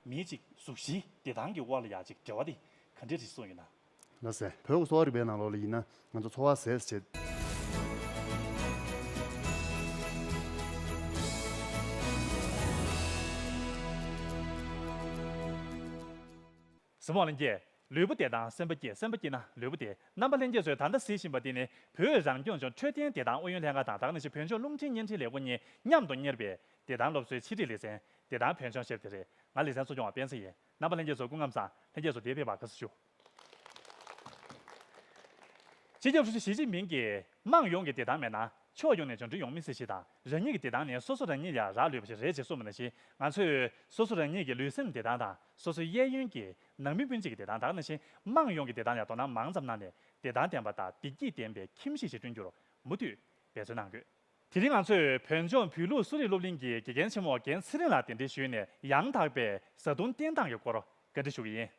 མིའི་གཅིག་གཟུགས་བཞི་བདེ་ཐང་གི་དབར་ལ་ཡ་གཅིག་འབྲེལ་བ་དེ་ག་འདྲའི་རིགས་སོགས་ཡིན་ན། ལ་ཟེར། བོད་ཀྱི་གསོ་བ་རིག་པའི་ནང་ལོགས་ལ་ཡིན་ན་ང་ཚོ་འཚོ་བ་ཟས་སུ་བྱེད། གཟི་མོ་ལན་བརྒྱད་ལུས་པོ་བདེ་ཐང་སེམས་པ་སྐྱིད་སེམས་པ་སྐྱིད་ན་ལུས་པོ་བདེ་རྣམ་པ་ལྷན་རྒྱས་ཚོས་ད་ལྟ་ཟེར་བཞིན་པ་དེ་ནི་བོད་རང་སྐྱོང་ལྗོངས་འཕྲོད་བསྟེན་བདེ་ཐང་ཨུ་ཡོན་ལྷན་ཁང་དང་དག་ནས་ཆེད་བོད་ལྗོངས་རླུང་འཕྲིན་བརྙན་འཕྲིན་ལས་ཁུངས་གཉིས་མཉམ་དུ་གཉེར་བའིབདེ་ཐང་སློབ་གསོའི་ཆིག་སྒྲིལ་ལེ་ཚན་དེ་དང་བོན་ཆོས་ཤེར་དེ་རེད་ང་ལེ་ཚན་གསོ་སྐྱོང་བ་སྤེན་ཚེ་ཡིན་རྣམ་པ་ལྷན་རྒྱས་ཚོ་སྐུ་ངམ་བཟང་ལྷན་རྒྱས་ཚོ་དེ་ཕེབས་པར་དགའ་བསུ་ཞུ། སྤྱི་ཁྱབ་ཧྲུའུ་ཅི་ཞི་ཅིན་ཕིང་གིས་དམངས་ཡོངས་ཀྱི་བདེ་ཐང་མེད་ན་ཕྱོགས་ཡོངས་ནས་འབྱོར་འབྲིང་ཡོང་མི་སྲིད་ཞེས་དང་རང་ཉིད་ཀྱི་བདེ་ཐང་ནི་སོ་སོ་རང་ཉིད་ལ་རག་ལུས་པ་ཞིག་རེད་ཅེས་གསུངས་པ་ནང་བཞིན་ང་ཚོས་སོ་སོ་རང་ཉིད་ཀྱི་ལུས་སེམས་བདེ་ཐང་དང་སོ་སོའི་གཡས་གཡོན་གྱི་ནང་མི་སྤུན་མཆེད་ཀྱི་བདེ་ཐང་དང་ནང་བཞིན་དམངས་ཡོངས་ཀྱི་བདེ་ཐང་ལ་དོ་སྣང་མང་ཙམ་གནང་ནས་བདེ་ཐང་ལྡན་པ་དང་བདེ་སྐྱིད་ལྡན་པའི་ཁྱིམ་གཞིས་ཤིག་བསྐྲུན་རྒྱུར་མུ་མཐུད་འབད་བརྩོན་གནང་དགོས། དེ་རིང་ང་ཚོས་བོད་ལྗོངས་བོད་ལུགས་གསོ་རིག་སློབ་གླིང་གི་དགེ་རྒན་ཆེན་མོ་རྒན་ཚེ་རིང་ལགས་གདན་འདྲེན་ཞུས་ནས་ཡང་དག་པའི་བཟའ་བཏུང་བསྟེན་སྟངས་ཀྱི་སྐོར་བཀའ་འདྲི་ཞུ་གི་ཡིན།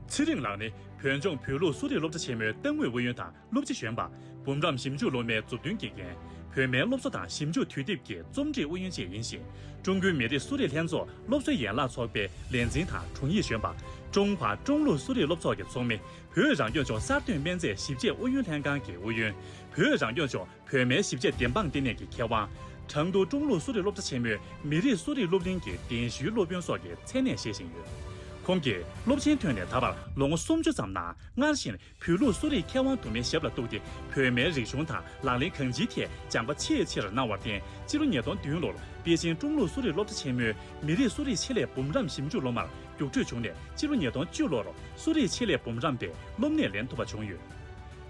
ཚེ་རིང་ལགས་ནི་བོད་ལྗོངས་བོད་ལུགས་གསོ་རིག་སློབ་གྲྭ་ཆེན་མོའི་ཏང་ཨུའི་ཨུ་ཡོན་དང་སློབ་སྤྱི་གཞོན་པ། འབུམ་རམས་ཞིབ་འཇུག་སློབ་མའི་མཛུབ་སྟོན་དགེ་རྒན། བོད་སྨན་སློབ་གསོ་དང་ཞིབ་འཇུག་དུས་དེབ་ཀྱི་རྩོམ་སྒྲིག་ཨུ་ཡོན་བཅས་ཡིན་ཞིང། ཀྲུང་གོའི་མི་རིགས་གསོ་རིག་ལྷན་ཚོགས་སློབ་གསོའི་ཡན་ལག་ཚོགས་པའི་ལས་འཛིན་དང་དྲུང་ཡིག་གཞོན་པ། ཀྲུང་ཧྭ་ཀྲུང་ལུགས་གསོ་རིག་སློབ་ཚོགས་ཀྱི་ཚོགས་མི། བོད་རང་སྐྱོང་ལྗོངས་གསར་གཏོད་སྨན་རྫས་ཞིབ་དཔྱད་ཨུ་ཡོན་ལྷན་ཁང་གི་ཨུ་ཡོན། བོད་རང་སྐྱོང་ལྗོངས་བོད་སྨན་ཞིབ་དཔྱད་བདེན་དཔང་ལྟེ་གནས་ཀྱི་མཁས་དབང། གྲངས་ཐོ་ཀྲུང་ལུགས་གསོ་རིག་སློབ་གྲྭ་ཆེན་མོའི་མི་རིགས་གསོ་རིག་སློབ་གླིང་གི་གདན་ཞུའི་སློབ་དཔོན་སོགས་ཀྱི་མཚན་གནས་བཞེས་བཞིན་ཡོད། ཁོང་གིས་སློབ་ཆེན་ཐོན་ནས་ད་བར་ལོ་ངོ་སུམ་ཅུ་ཙམ་ནང་སྔར་བཞིན་བོད་ལུགས་གསོ་རིག་མཁས་དབང་དུ་མའི་ཞབས་ལ་གཏུགས་ཏེ་བོད་སྨན་རིག་གཞུང་དང་ལག་ལེན་གང་ཅིའི་ཐད་སྦྱངས་པ་ཆེས་ཆེར་གནང་བར་བརྟེན་སྤྱི་ལོ་ཉིས་སྟོང་བདུན་ལོར་པེ་ཅིང་ཀྲུང་ལུགས་གསོ་རིག་སློབ་གྲྭ་ཆེན་མོའི་མི་རིགས་གསོ་རིག་ཆེད་ལས་འབུམ་རམས་ཞིབ་འཇུག་སློབ་མར་རྒྱུགས་སྤྲོད་བྱུང་ནས་ཕྱི་ལོ་ཉིས་སྟོང་བཅུ་ལོར་གསོ་རིག་ཆེད་ལས་འབུམ་རམས་པའི་སློབ་གནས་ལེན་ཐུབ་པ་བྱུང་ཡོད།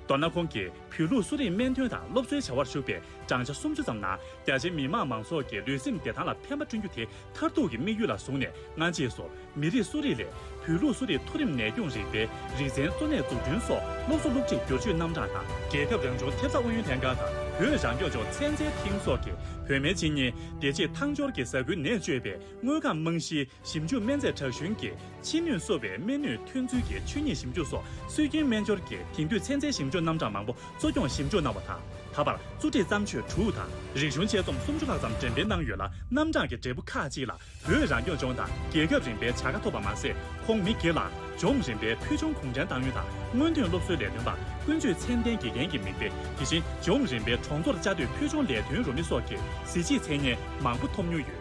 མདོར་ན་ཁོང་གིས་བོད་ལུགས་གསོ་རིག་སྨན་དོན་དང་སློབ་གསོའི་བྱ་བར་ཞུགས་པའི་བགྲང་བྱ་སུམ་ཅུ་ཙམ་ནང་རྒྱ་ཆེའི་མི་དམངས་མང་ཚོགས་ཀྱི་ལུས་སེམས་བདེ་ཐང་ལ་ཕན་པ་བསྐྲུན་རྒྱུ་དེ་མཐར་ཐུག་གི་དམིགས་ཡུལ་ལ་བཟུང་ནས་སྔ་རྗེས་སུ་མི་རིགས་གསོ་རིག་ལས་བོད་ལུགས་གསོ་རིག་མཐོ་རིམ་ནད་སྐྱོང་རིག་པའི་རིག་ཚན་གཙོ་གནད་འཛུགས་སྐྲུན་སོགས་སློབ་གསོ་སློབ་ཁྲིད་སྒྱུར་བཅོས་རྣམ་གྲངས་དང། རྒྱལ་ཁབ་རང་བྱུང་ཐེབས་རྩ་ཨུ་ཡོན་ལྷན་ཁང་དང་བོད་རང་སྐྱོང་ལྗོངས་ཚན་རྩལ་ཐིང་སོགས་ཀྱིས་བོད་སྨན་སྤྱི་གཉེར་བདེ་སྐྱིད་ཐང་སྐྱོར་གྱི་ས་ཁུལ་ནད་བཅོས་པའི་དངོས་ཁམས་རྨང་གཞིའི་ཞིབ་འཇུག་སྨན་རྫས་དྲག་ཞུན་གྱི་ཕྱི་ནུས་གསོ་བའི་སྨན་ནུས་ཐོན་ཚུལ་གྱི་ཆོས་ཉིད་ཞིབ་འཇུག་སོགས་སྲོལ་རྒྱུན་སྨན་སྦྱོར་གྱི་དེང་དུས་ཚན་རྩལ་ཞིབ་འཇུག་རྣམ་གྲངས་མང་པོ་གཙོ་སྐྱོང་ཞིབ་འཇུག་གནང་བ་དང། ད་བར་གཙོ་ཁྲིད་བརྩམས་ཆོས་དྲུག་དང་རིག་གཞུང་དཔྱད་རྩོམ་སུམ་ཅུ་ལྷག་ཙམ་འགྲེམ་སྤེལ་གནང་ཡོད་ལ་རྣམ་གྲངས་ཀྱི་འབྲས་བུ་ཁག་ཅིག་ལ་བོད་རང་སྐྱོང་ལྗོངས་དང་རྒྱལ་ཁབ་རིམ་པའི་བྱ་དགའ་ཐོབ་པ་མ་ཟད་ཁོང་མི་སྒེར་ལའང་ལྗོངས་རིམ་པའི་ཕུལ་བྱུང་གུང་ཁྲན་ཏང་ཡོན་དང་སྔོན་ཐོན་སློབ་གསོའི་ལས་དོན་པ་ཀུན་སྤྱོད་ཚད་ལྡན་དགེ་རྒན་གྱི་མིང་སྟེ་དེ་བཞིན་ལྗོངས་རིམ་པའི་གྲོང་ཚོར་བཅའ་སྡོད་ཕུལ་བྱུང་ལས་དོན་རུ་མི་སོགས་ཀྱི་གཟི་བརྗིད་མཚན་སྙན་མང་པོ་ཐོབ་མྱོང་ཡོད།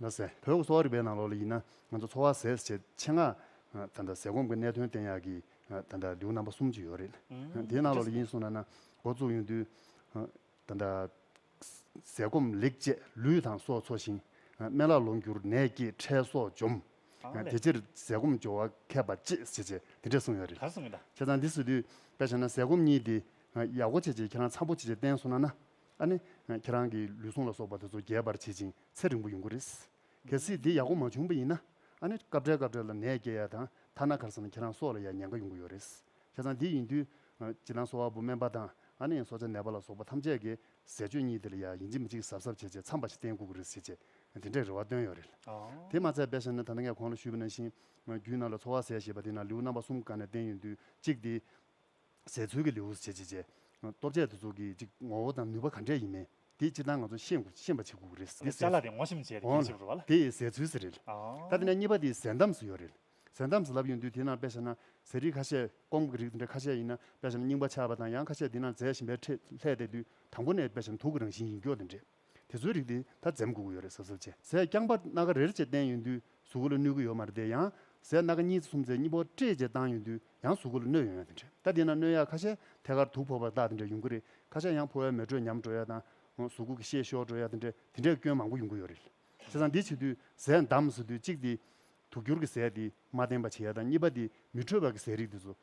ལ་ཟེར། བོད་ཀྱི་གསོ་བ་རིག་པའི་ནང་ལོགས་ལ་ཡིན་ན་ང་ཚོ་འཚོ་བ་ཟས་བྱེད་ཆེད་མངགས། ད་ལྟ་ཟས་སྐོམ་གྱི་གནད་དོན་བསྟེན་ཡག་གི། ད་ལྟ་ལེའུ་རྣམ་པ་གསུམ་ཅིག་ཡོད་རེད། དེའི་ནང་ལོགས་ལ་ཡིན་གསུངས་ན་ན་འགོ་བཙུགས་ཡོང་དུས། ད་ལྟ། ཟས་སྐོམ་ལེགས་སྤྱད་ལུས་དང་སྲོག་འཚོ་ཞིང། སྨན་བླ་ལོངས་གྱུར་ནད་སྐྱེས་ཁྲལ་སོགས་འཇོམས། དེ་ཕྱིར་ཟས་སྐོམ་སྦྱོར་བ་མཁས་པ་གཅེས་བྱེད་ཅེས་དེ་འདྲས་གསུངས་ཡོད་རེད། ཁྱེད་རང་འདི་བཟོས་དུས་དཔེ་བྱས་ན་ཟས་སྐོམ་གཉིས་དེ། ཡག་པོ་བྱེད་ཅེས་ཁྱེད་རང་འཚམས་པོ་བྱེད་ཅེས་བསྟན་གསུངས་ན་ན། ཨ་ནི། ཁྱེད་རང་གིས་ལུས་ཟུངས་ལ་སོགས་པ་དེ་ཚོ་རྒྱས་པར་བྱེད་ཅིང་ཚེ་རིང་པོ་ཡོང་གི་རེད། གལ་སྲིད་དེ་ཡག་པོ་མ་བྱུང་པ་ཡིན་ན། ཨ་ནི། སྐབས་འཕྲལ་སྐབས་འཕྲལ་ལ་ནད་སྐྱེ་ཡ་དང་ཐ་ན་གར་སོང་ན་ཁྱེད་རང་སྲོག་ལ་ཡང་ཉེན་ཁ་ཡོང་གི་ཡོད་རེད། ཁྱེད་རང་འདི་ཡིན་དུས། བྱིས་ལང་སོ་བ་པོ་སྨན་པ་དང་ཨ་ནི་ཡང་སྲོག་ཆགས་ནད་པ་ལ་སོགས་པ་ཐམས་ཅད་ཀྱི་ཟས་སྤྱོད་གཉིས་དེ་ལ་ཡང་ཡིན་གཅིག་མིན་གཅིག་གཟབ་གཟབ་བྱས་བྱས་མཚམས་པ་ཞིག་བསྟན་དགོས་ཀྱི་རེད་ཟེར་བྱས་དེ་འདྲའི་རེ་བ་བཏོན་ཡོད་རེད། དེ་མ་ཚད་དཔེ་ཤེས་ནི་ད་ལྟ་ངས་ཁོང་ལ་ཞུས་པ་ནང་བཞིན། རྒྱུད་ནང་ལ་འཚོ་བ་ཟས་ཞེས་པ་དེ་ནང་ལེའུ་རྣམ་པ་གསུམ་ག་ནས་བསྟན་ཡོད་དུས་གཅིག་དེ། ཟད་ཚུལ་གྱི་ལེའུ་སུ་བྱེད་ཅེས་བྱའི། སྟོབས་ཆད་དུ་ཚོགས་ཀྱི་ཅིག། ངོ་བོ་དང་ནུས་པ་ག་འདྲས་ཡིན་མིན་དེ་སྤྱི་དང་ང་ཚོ་ཤེས་དགོས་ཤེས་པ་བྱེད་དགོས་རེད། དེ་ཟད་ཚུལ་འོང་ལ་དེ་ཟད་ཚུལ་ཟེར་རེད། ད་དེ་ནས་གཉིས་པ་དེ་ཟད་འདམས་སུ་ཡོད་རེད། ཟད་འདམས་སུ་ལབ་ཡོང་དུས་དེ་ནང་དཔེ་བྱས་ན་ཟས་རིགས་ཁ་ཤས་སྐོམ་གྱི་རིགས་དེ་འདྲ་ཁ་ཤས་ཡིན་ན་དཔེ་བྱས་ན་རྙིང་པ་ཆགས་པ་དང་ཡང་ཁ་ཤས་དེ་ནང་འཛད་བཞིན་པའི་ཁྲིད་ལྷད་དེ་དུས་དང་པོ་ནས་དཔེ་བྱས་ན་དུག་གི་རང་བཞིན་ཡིན་སྐྱོ་དེ་འདྲས། དེ་ཚོའི་རིགས་དེ་ད་འཛེམ་དགོས་ཀྱི་ཡོད་རེད་ཟེར་ཟེར་བྱས་ཟས་རྐྱང་པ་སྣ་ཁ་རེར་བཅས་བསྟན་ཡོད་དུས་གཟུགས་སྐུ་ལ་གནོད་ཀྱི་ཡོད་མ་རེད་དེ་ཡང་ཟས་སྣ་ཁ་གཉིས་ཚེ་གསུམ་ཚེ་གཉིས་པོ་བཀྲེས་བཅས་བཏང་ཡོད་དུས་ཡང་གཟུགས་སྐུ་ལ་གནོད་ཡོང་ཡ་དེ་འདྲས་ད་དེས་ན་གནོད་ཡག་ཁ་ཤས་ཐད་ཀར་དུག་ཕོག་པ་དག་དེ་འདྲས་ཡོང་གི་རེད་ཁ་ཤས་ཡང་ཕོ་བའི་མེ་དྲོད་ཉམས་འགྲོ་ཡ་དང་གཟུགས་སྐུ་གི་ཤེད་ཤོར་འགྲོ་ཡ་དེ་འདྲས་དེ་འདྲས་སྐྱོན་མང་པོ་ཡོང་གི་ཡོད་རེད་ཟས་དང་འདི་བྱེད་དུས་ཟས་འདམ་ཟེར་དུས་གཅིག་དེ་དུག་འགྱུར་གྱི་ཟས་དེས་མ་བསྟེན་པ་བྱེད་ཡ་དང་གཉིས་པ་དེ་མི་འཕྲོད་པར་གྱི་ཟས་རིགས་དེ་ཚོ།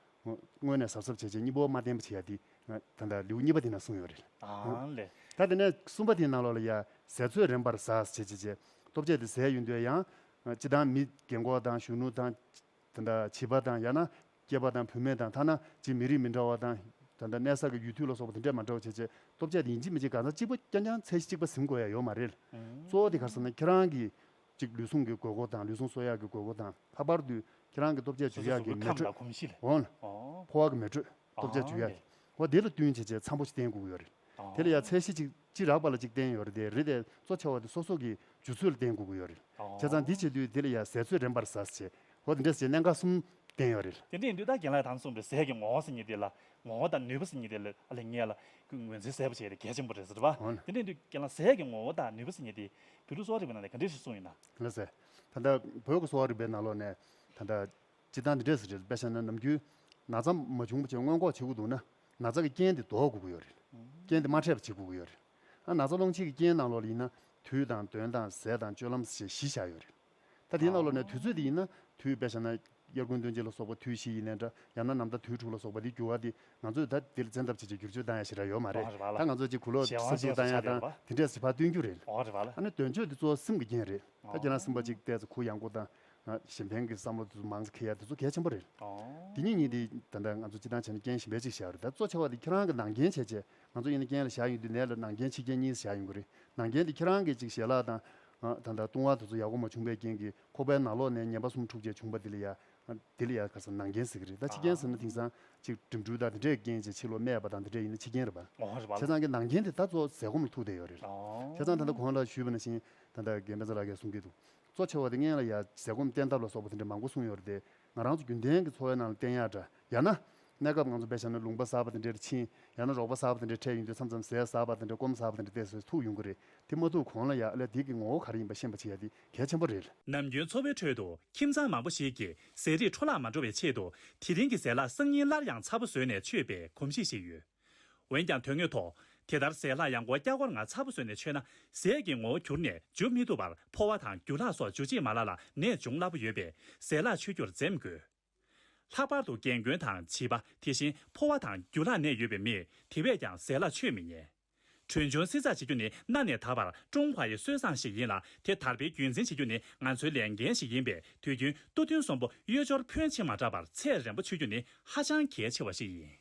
སྔོན་ནས་ཟབ་ཟབ་བྱས་བྱས་གཉིས་པོ་མ་བསྟེན་པ་བྱེད་ཡ་དེ། ད་ལྟ་ལེའུ་གཉིས་པ་དེ་ན་གསུངས་ཡོད་རེད། དང་ལས། ད་དེ་ནས་གསུམ་པ་དེའི་ནང་ལོགས་ལ་ཡ། ཟས་ཚོད་རན་པར་ཟས་བྱེད་བྱེད་བྱེད། སྟོབས་ཆེ་དེ་ཟས་ཡོད་འདོད་ཡང། ཅི་དང་མི་རྒན་འཁོགས་དང་གཞོན་ནུ་དང། ད་ལྟ་བྱིས་པ་དང་ཡང་ན་སྐྱེས་པ་དང་བུད་མེད་དང་ཐ་ན་རྗེ་མི་རིགས་མི་འདྲ་བ་དང། ད་ལྟ་གནས་ས་གི་ཡུལ་དུས་ལ་སོགས་པ་དེ་འདྲས་མ་འདྲ་བ་བྱེད་བྱེད། སྟོབས་ཆེ་དེ་ཡིན་གཅིག་མིན་གཅིག་གང་ཟག་གཅིག་པོ་རྐྱང་རྐྱང་ཚད་གཞི་གཅིག་པ་ཟིན་དགོས་ཡ་ཡོད་མ་རེད། གཙོ་བོ་དེ་གར་ཟེར་ན་ཁྱེད་རང་གིས། གཅིག་ལུས་ཟུངས་ཀྱི་དགོས་མཁོ་དང་ལུས་ཟུངས་གསོ་ཡག་གི་དགོས་མཁོ་དང་ལྷག་པར་དུ་ཁྱེད་རང་གི་སྟོབས་ཆས་ཇུས་ཡག་གི་མེ་དྲོད། འོན། ཕོ་བ་གི་མེ་དྲོད། སྟོབས་ཆས་ཇུས་ཡག་གི། བ་དེ་ལ་བསྟུན་བྱེད་ཆས་འཚམ་པོ་ཞིག་བསྟེན་བསྒུགས་ཡོད་རེད། དེ་ལ་ཡང་ཚད་གཞི་གཅིག་ཅི་རགས་པ་ལ་གཅིག་བསྟེན་ཡོད་རེད་དེ་རེད་དེ་གཙོ་ཆེ་བ་དེ་སོ་སོ་གི་ཇུས་ཚོད་ལ་བསྟེན་བསྒུགས་ཡོད་རེད། བྱས་ཙང་འདི་བྱེད་དུས་དེ་ལ་ཡང་ཟས་ཚོད་རན་པར་ཟས་བྱེད། བ་དེ་འདྲས་བྱེད་གནད་འགག་གསུམ་བསྟེན་ཡོད་རེད། དེ་འདྲས་དུས་ད་གྱེན་ལ་དང་གསུམ་པའི་ཟས་ཀྱི་ངོ་བོ་ཟིན་གྱི་དེ་ལ་ངོ་བོ་དང་ནུས་པ་ཟིན་གྱི་དེ་ལ་ངེད་ལ་ངོས་འཛིན་གསལ་པོ་བྱས་ཏེ་གལ་ཆེན་པོ་རེད་ཟེར་བ། དེ་འདྲས་དུས་གྱེན་ལ་ཟས་ཀྱི་ངོ་བོ་དང་ནུས་པ་ཟིན་གྱི་དེ་བོད་ལུགས་གསོ་བ་རིག་པའི་ནང་ནས་ག་འདྲའི་ཞིག་གསུངས་ཡོད་ན། ལེགས་སེ། ད་ལྟ་བོད་ཀྱི་གསོ་བ་རིག་པའི་ནང་ལོགས་ནས་ད་ལྟ་སྤྱིར་བཏང་འདི་འདྲས་སུ་རེད། དཔེར་བཤད་ན་ནམ་རྒྱུན་ན་ཚ་མ་བྱུང་བ་ཆེད་སྔོན་འགོག་བྱེད་དགོས་འདུག་ན་ན་ཚ་གི་རྐྱེན་དེ་ལྡོག་དགོས་ཀྱི་ཡོད་རེད། རྐྱེན་དེ་མ་འཕྲད་པ་བྱེད་དགོས་ཀྱི་ཡོད་རེད། ན་ཚ་སློང་བྱེད་ཀྱི་རྐྱེན་ནང་ལོགས་ལ་ཡིན་ན་དུས་དང་དོན་དང་ཟས་དང་སྤྱོད་ལམ་ཞེས་བཞི་བཞག་ཡོད་རེད། ད་དེའི་ནང་ལོགས་ནས་དུས་ཚོད་དེ་ཡིན་ན་དུས་དཔེ་བྱས་ན་དབྱར་དགུན་སྟོན་དཔྱིད་ལ་སོགས་པ་དུས་བཞི་ཡིན་ནའི་འདྲ་ཡང་ན་ནམ་ཟླ་དུས་དྲུག་ལ་སོགས་པ་དེ་འགྱུར་བ་དེ་ང་ཚོས་ད་དེར་བཙན་ཐབས་བྱེད་ཅིག་བསྒྱུར་བཅོས་བཏང་ཡ་ཞེས་ར་ཡོད་མ་རེད་ད་ང་ཚོ་ཅིག་གུ་ལོག་གསར་བཙུགས་བཏང་ཡ་དང་དེ་འདྲས་བྱེད་ཕ་སྟོན་རྒྱུ་རེད་ཨ་ནི་དོན་བརྗོད་དེ་གཙོ་བ་སེམས་ཀྱི་རྐྱེན་རེད་ད་ཁྱེད་རང་སེམས་པ་ཅིག་གཏད་ཚེ་གུ་ཡངས་པོ་དང་གཞན་ཕན་གྱི་བསམ་བློ་དེ་ཚོ་མང་ཚེ་ཁེ་ཡ་དེ་ཚོ་གལ་ཆེན་པོ་རེད་དེ་ཉིད་ཉིད་དེ་ད་ལྟ་ང་ཚོ་སྤྱི་བཏང་བྱས་ན་རྐྱེན་གཞན་པའི་ཅིག་བཞག་རེད་ད་གཙོ་ཆེ་བ་དེ་ཁྱེད་རང་གི་ནང་རྐྱེན་བྱས་རྗེས་ང་ཚོ་ཡིན་ན་རྐྱེན་ལ་བཞག་ཡིན་དུས་ནས་ལ་ནང་རྐྱེན་ཕྱི་རྐྱེན་གཉིས་སུ་བཞག་ཡོང་གི་རེད་ནང་རྐྱེན་དེ་ཁྱེད་རང་གིས་ཅིག་ཞལ་ལག་དང་ད་ལྟ་བཏུང་བ་དེ་ཚོ་ཡག་པོ་མ་བྱུང་པའི་རྐྱེན་གྱིས་ཁོག་པའི་ནང་ལོགས་ནས་ངན་པ་གསུམ་འཁྲུགས་བཅས་བྱུང་པ་དེ་ལ་ཡ། དེ་ལ་ཡ་ག་ཟེར་ནང་རྐྱེན་ཟེར་གྱི་རེད་ད་ཕྱི་རྐྱེན་ཟེར་ན་དེང་སང་ཅིག་འགྲིམ་འགྲུལ་དང་དེ་འདྲའི་རྐྱེན་ཅིག་ཕྱི་ལོགས་སྨད་པ་དང་དེ་འདྲས་ཡིན་ན་ཕྱི་རྐྱེན་རེད་པ། བྱས་ཙང་གི་ནང་རྐྱེན་དེ་ད་གཙོ་ཟས་སྐོམ་ལ་ཐུག་བསྡད་ཡོད་རེད། བྱས་ཙང་ད་ལྟ་གོང་ལ་ཞུས་པ་ནང་བཞིན་ད་ལྟ་རྒན་པན་ཚ་ལགས་ཀས་གསུང་གི་འདུག་གཙོ་ཆེ་བ་དེ་ལྔན་ལ་ཡ། ཟས་སྐོམ་བསྟེན་ཐབས་ལ་སོགས་པ་དེ་འདྲས་མང་པོ་གསུང་ཡོད་རེད་དེ། ང་རང་ཚོ་རྒྱུན་ལྡན་གྱི་འཚོ་བའི་ནང་ལ་བསྟེན་ཡག་འདྲ། ཡང་ན། གནས་སྐབས་ང་ཚོ་བེད་བཞག་ན་ལུང་པ་ཟགས་པ་དེ་འདྲའི་ཕྱིན། ཡང་ན་རོགས་པ་ཟགས་པ་དེ་འདྲའི་འཕྲད་ཡོང་དུས་མཚམས་མཚམས་ཟས་ཟགས་པ་དེ་འདྲ་སྐོམ་ཟགས་པ་དེ་འདྲ་བལྟས་སོས་ཐུག་ཡོང་གི་རེད་དེ་མ་ཐུག་གོང་ལ་ཡག་ལས་དེ་གི་ངོ་བོ་ག་རེ་ཡིན་པ་ཤེས་པ་བྱེད་ཡག་དེ་གལ་ཆེན་པོ་རེད། ནམ་རྒྱུན་འཚོ་བའི་ཁྲོད་དུ་ཁྱིམ་ཚང་མང་པོ་ཞིག་གིས་ཟས་རིགས་འཕྲོ་བརླག་མ་འགྲོ་བའི་ཆེད་དུ་དེ་རིང་གི་ཟས་ལ་སང་ཉིན་སླར་ཡང་ཚ་པོ་བཟོས་ནས་མཆོད་པའི་གོམས་གཤིས་ཤིག་ཡོད། འོན་ཀྱང་དོན་དངོས་ཐོག་དེ་ལྟར་ཟས་ལྷག་ཡང་སྒོ་སྐྱ་སྒོར་ང་ཚ་པོ་ཟོས་ནས་མཆོད་ན་ཟས་ཀྱི་ངོ་བོ་གྱུར་ནས་འཇུ་མི་ཐུབ་པར་ཕོ་བ་དང་རྒྱུ་ལྷག་སོགས་འཇུ་བྱེད་མ་ལ་ལ་ནད་འབྱུང་སླ་པོ་ཡོད་པས་ཟས་ལྷག་མཆོད་རྒྱུར་འཛེམ་དགོས། ལྷག་པར་དུ་རྒན་རྒོན་དང་བྱིས་པ་དེ་བཞིན་ཕོ་བ་དང་རྒྱུ་ལྷག་ནད་ཡོད་པའི་མིས་དེ་བས་ཀྱང་ཟས་ལྷག་མཆོད་མི་ཉན། གྲོན་ཆུང་བསྲི་ཚགས་བྱེད་རྒྱུ་ནི་གནའ་ནས་ད་བར་ཀྲུང་ཧྭ་ཡི་སྲོལ་བཟང་ཞིག་ཡིན་ལ་དེ་དར་སྤེལ་རྒྱུན་འཛིན་བྱེད་རྒྱུ་ནི་ང་ཚོའི་ལས་འགན་ཞིག་ཡིན་པས་དུས་རྒྱུན་སྟུ་ཐུང་གསོན་པོ་གཡོས་སྦྱོར་ཕོན་ཆེ་མ་དྲགས་པར་ཚད་རན་པོ་མཆོད་རྒྱུ་ནི་ཧ་ཅང་གལ་ཆེ་བ་ཞིག་ཡིན།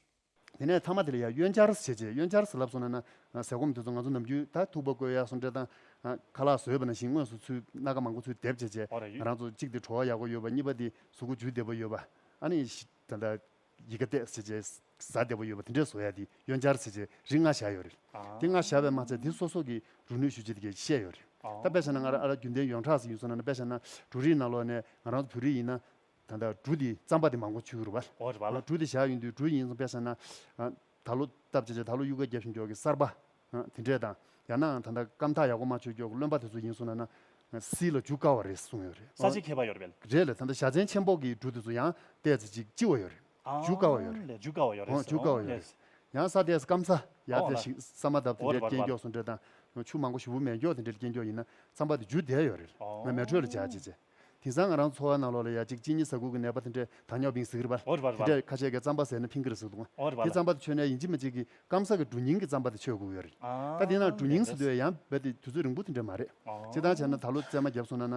དེ་ནས་ཚང་མ་དེ་ལ་ཡར་གཡོན་བཅར་བྱེད་ཅེས་གཡོན་བཅར་ཟེར་ལབ་སོང་ན་ན། ཟས་སྐོམ་དེ་ཚོ་ང་ཚོ་ནམ་རྒྱུན་ད་ཐུག་པ་བསྐོལ་ཡག་སོང་དྲེ་དང། ཁ་ལག་ཟོས་པ་ན་བཞིན་དངོས་སུ་ཚུལ་སྣ་ག་མང་པོ་ཚུལ་འདེབས་བྱེད་ཅེས། རང་ཚོ་གཅིག་དེ་བྲོ་བ་ཡག་པོ་ཡོད་པ་གཉིས་པ་དེ་གཟུགས་སྐུ་ཇུས་བདེ་པོ་ཡོད་པ། ཨ་ནི། ད་ལྟ། ཡི་ག་བཏེགས་བྱེད་ཅེས། བཟའ་བདེ་པོ་ཡོད་པ་དེ་འདྲས་བཟོ་ཡག་དེ་གཡོན་བཅར་བྱེད་ཅེས་རིགས་ལྔ་བཞག་ཡོད་རེད། དེ་ལྔ་བཞག་པའི་མ་ཚད་དེ་སོ་སོ་གིས་རུ་ནུས་ཞུ་བྱེད་དེ་གས་བཤད་ཡོད་རེད། ད་དཔེ་བྱ་ན་ང་ར་རྒྱུན་ལྡན་ཡོངས་གྲགས་སུ་ཡིན་སོང་ན་ན་དཔེ་བྱ་ན། འབྲུ་རིགས་ནང་ལོགས་ནས་ང་རང་ཚོ་བོད་རིགས་ཡིན་ན། ད་ལྟ་གྲུ་དེ་རྩམ་པ་དེ་མང་པོ་ཆུ་བུར་བར། འོ་རེད་པ་ལ། གྲུ་དེ་བཞག་ཡོང་དུས་གྲུ་ཡིན་ཙམ་དཔེ་ཟེར་ན། ད་ལོ་སྟབས་བྱེད་ཆ་ད་ལོ་གཡུ་སྐར་རྒྱབ་བཞིན་འགྱོག་གི་གསར་པ། དེ་འདྲས་དང། ཡང་ནའང་ད་ལྟ་སྐམ་ཐག་ཡག་པོ་མ་ཆོད་འགྱོག་གི་བློན་པ་དེ་ཚོ་ཡིན་གསུང་ན་ན། བསིལ་ལ་འཇུག་དཀའ་བ་རེད་གསུང་ཡོད་རེད། ས་བྱི་ཁྱད་པར་ཡོད་རེད་པས། རེད་ལ་ད་ལྟ་ཞྭ་ཆེན་ཆེན་པོ་གི་གྲུ་དེ་ཚོ་ཡང་བལྟས་ཚེ་ཅིག་ལྕི་བ་ཡོད་རེད། འཇུག་དཀའ་བ་ཡོད་རེད། ལས་འཇུག་དཀའ་བ་ཡོད་རེད། འཇུག་དཀའ་བ་ཡོད་རེད། ཡང་ས་དེས་སྐམ་ས་ཡག་འོ་ལ། དེ་ཞིག་ས་མ་འདབ་དེ་འོ་རེད་འདྲས་པ་རེད་རྐྱེན་པ་འགྱོག་ལ། སུ་འདྲས་དང། ཆུ་མང་པོ་ཞུ་བུ་མེད་འགྱོག་དེ་འདྲས་རྐྱེན་འགྱོག་ཡིན་ན་རྩམ་པ་དེ་འཇུ་བདེ་ཡོད་རེད། ང་མལ་ཁྲོད་ལ་བཞག་ཅེས་བྱས། དེང་སང་ང་རང་འཚོ་བ་ནང་ལོགས་ལ་ཡ་གཅིག་གཅིན་སྙི་ཟ་ཁུག་གི་ནད་པ་དེ་འདྲས་ད་ཉོག་བིང་ཟིག་རི་བ། དེ་འདྲས་ཁ་ཆད་ཀའི་རྩམ་པ་ཟེར་ན་ཕིང་ཀི་རི་ཟིག་འདུག་ང། དེ་རྩམ་པ་དེ་མཆོད་གནས་ཡིན་གཅིག་མ་གཅིག་གིས་སྐམ་ས་གི་གྲུ་རྙིང་གི་རྩམ་པ་དེ་མཆོད་ཁུག་ཡོད་རེད། ད་དེ་ནང་གྲུ་རྙིང་ཟེར་དུས་ཡང་རྦད་དེ་དུས་ཚོད་རིང་པོ་དེ་འདྲས་མ་རེད། བྱེད་སྟངས་བྱས་ན་ད་ལོ་བཙས་མ་བརྒྱབ་སོང་ན་ན།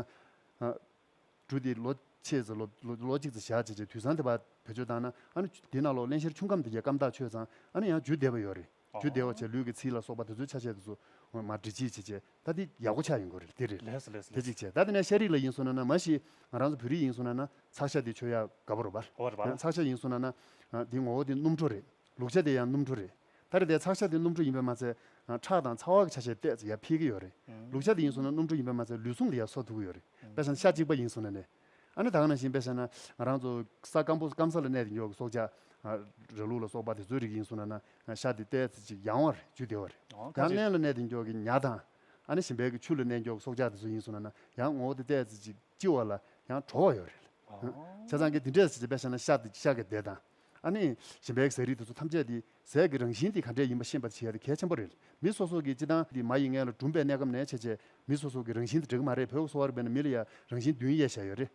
གྲུ་དེ་ལོ་ཕྱེད་ཙི་ལོ་ལོ་གཅིག་ཙི་བཞག་བྱས་བྱས་དུས་སང་དེ་བ་བེད་སྤྱོད་བཏང་ན་ཨ་ནུ་དེ་ནང་ལོགས་གླེང་བཤེར་ཆུང་ཁམས་དེ་རྒྱལ་སྐམ་ཐག་ཆོད་ཙང་ཨ་ནུ་ཡང་འཇུ་བདེ་བ་ཡོད་རེད། རྒྱུ་བདེ་བ་ཆེ་ལུས་ཀྱི་ཚིལ་ལ་སོགས་པ་དེ་ཚོའི་ཆ་བྱད་དེ་ཚོ། ངོ་མ་འདྲི་བྱེད་ཅེས་བྱས་ད་དེ་ཡག་པོ་ཆགས་ཡིན་དགོས་རེད་དེ་རེད། དེ་གཅིག་བྱས་ད་དེ་ནས་ཤ་རིགས་ལ་ཡིན་སོང་ན་ན་མ་གཞི་ང་རང་ཚོ་བོད་རིགས་ཡིན་སོང་ན་ན་ཚགས་ཤ་དེ་ཆོས་ཡག་དགའ་བོ་རོ་བར། ཚགས་ཤ་ཡིན་སོང་ན་ན། དེའི་ངོ་བོ་དེ་སྣུམ་གྲོ་རེད། ལུག་ཤ་དེ་ཡང་སྣུམ་གྲོ་རེད། ད་རེས་འདའི་ཚགས་ཤ་དེ་སྣུམ་གྲོ་ཡིན་པས་མ་ཚད། ཁྲག་དང་ཚ་བ་གི་ཆ་བྱད་བལྟས་ཡ་འཕེལ་གྱི་ཡོད་རེད། ལུག་ཤ་དེ་ཡིན་སོང་ན་སྣུམ་གྲོ་ཡིན་པས་མ་ཚད་ལུས་ཟུངས་དེ་ཡ་གསོ་ཐུབ་ཀྱི་ཡོད་རེད། དཔེར་ན་ཤ་གཅིག་པ་ཡིན་སོང་ན་ནས། ཨ་ནི་ད་ག་ན་བཞིན་པས་ཤ་ན་ང་རང་ཚོ་ས་སྐམ་པོ་སྐམ་ས་ལ་གནས་ཏེ་མགྱོགས་ཀྱི་སྲོག་ཆགས་ར་ལུག་ལ་སོགས་པ་དེ་ཚོའི་རིགས་ཡིན་གསུང་ན་ན་ཤ་དེ་ལྟའི་ཚེ་ཅིག་ཡང་བར་འཇུས་བདེ་བ་རེད་ཡང་གླན་ལ་གནས་ཏེ་མགྱོགས་ཀྱི་ཉྭ་དང། ཨ་ནི་བཞིན་པས་ཀྱི་ཆུ་ལ་གནས་མགྱོགས་ཀྱི་སྲོག་ཆགས་དེ་ཚོ་ཡིན་གསུང་ན་ན་ཡང་ངོ་བོ་དེ་ལྟའི་ཚེ་ཅིག་ལྕི་བ་ལ་ཡང་དྲོ་བ་ཡོད་རེད། བྱས་ཙང་ཀྱི་དེ་འདྲའི་ཚེ་བྱས་པས་ཤ་ན་ཤ་དེ་ཤ་གི་འདེད་དང། ཨ་ནི་བཞིན་པས་ཀྱི་ཟས་རིགས་དེ་ཚོ་ཐམས་ཅད་དེ་ཟས་ཀྱི་རང་བཞིན་དེ་ག་འདྲས་ཡིན་པ་ཤེས་པ་དེ་གལ་ཆེན་པོ་རེད། མི་སོ་སོ་གིས་སྤྱི་བཏང་དེ་མ་ཡི་མངལ་ལ་གྲུམ་པའི་གནས་སྐབས་ནས་བྱས་རྗེས་མི་སོ་སོ་གི་རང་བཞིན་དེ་འགྲིག་གི་མ་རེད་བོད་གསོ་བ་རིག་པའི་ནང་མི་ལ་ཡ་རང་བཞིན་བདུན་དབྱེ་བྱས་ཡོད་རེད།